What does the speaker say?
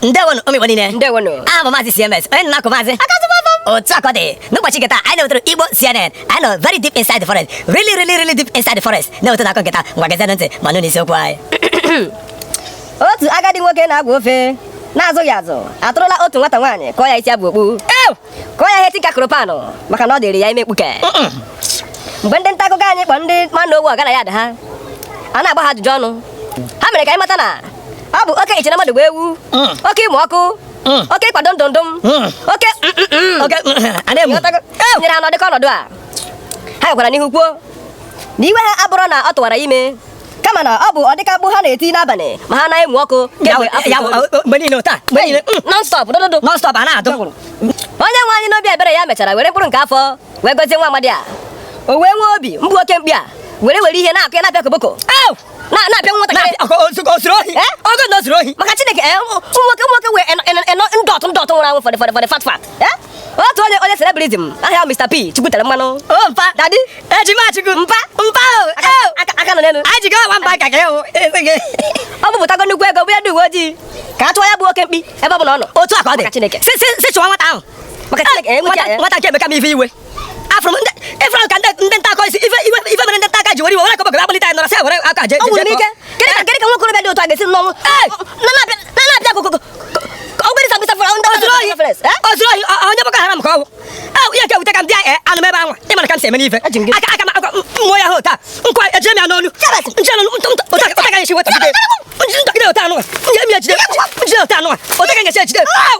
ndewonu ụmụ Igbo niile ndewonu aha m bụ maazị CMS onye nna akụ maazị otu a ka ọ dị n'ụbọchị nke taa anyị na-ewetara Igbo CNN anyị nọ very deep inside the forest really really really deep inside the forest na-ewetara unu akụkọ nke taa ngwa gezianụ ntị ma nụ n'isiokwu anyị otu agadi nwoke na-agwọ ofe na-azụghị azụ atụrụla otu nwata nwaanyị kụọ ya isi aba okpu kụọ ya ihe tinka kụrụ pan maka na ọ dịrị ya ime mkpuke mgbe ndị nta akụkọ anyị kpọrọ ndị mmanụ owu ọgana ya ada ha a na-agba ha ajụjụ ọnụ ha mere ka anyị mata na ọ bụ oke iche na mmadụ bụ ewu mm. oke ịmụ ọkụ mm. oke ịkwado ndụ ndụ m mm. tinyere ha n'ụdị ka ọnọdụ a ha gakwara n'ihu kwuo na iwe ha abụrọ na ọ tụwara ime kama na ọ bụ ụdị ka mkpu ha na-eti n'abalị ma ha na-amụ ọkụ mgbe niile taa mgbe niile mm. nonstop dododo nonstop a na-adụ onye nwe anyị n'obi ebere ya mechara were mkpụrụ nke afọ wee gozie nwa amadi a o wee nwee obi mgbu oke mkpi a were were ihe na-akụ ya na-apịa koboko na-apịa nwatakịrị eh? ọ bụ na o zuru ohi maka Chineke eh, ụmụ nwoke nwoke wee ndọtụ ndọtụ nwụrụ anwụ fọdụ fọdụ fọdụ fat fat Eh? otu onye onye celebrism aha ya Mr. P Chukwu tere mmanụ o oh, mpa dadi ejima Chukwu mpa mpa oh, oh. aka nọ n'elu anyị ji aga mba ka gị hụ o bupụtago nnukwu ego bunye ndị uwe ojii ka a chọọ ya bụ oke mkpi ebe ọ bụla ọ nọ otu a ka ọ dị Chineke si chụwa nwata ahụ maka Chineke eh, nwata nke a emeka m ife iwe afụrụ m ndị ịfụrụ ka ndị ndị nta akọ isi ife ife ife mere ndị nta aka ji were iwe were akọbọgara akpọlite anyị nọrọ sị were aka je ọ nwụrụ n'ike kedụ ka kedụ ka nwa okorobịa dị otu a ga-esi n'ọnwụ na na-apịa na na-apịa koboko ọgwụgwere sa mgbisa fọrọ ndị o zuru ohi o zuru ohi ọ- onye Boko Haram ka ọ bụ Ee, ihe nke wute ka m bịa ee anụ m ebe anwa ị mana ka m si eme n'ife Eji m gị- aka aka m aka m mụọ ya ha otu a nkwa ejire m ya n'onu nje n'onu ntụ ntụ otu a- otu a ka m ga-esi weta jide njide otu anụwa m ga-esi ejide njide otu anụwa otu a ka m ga-esi ejide Au!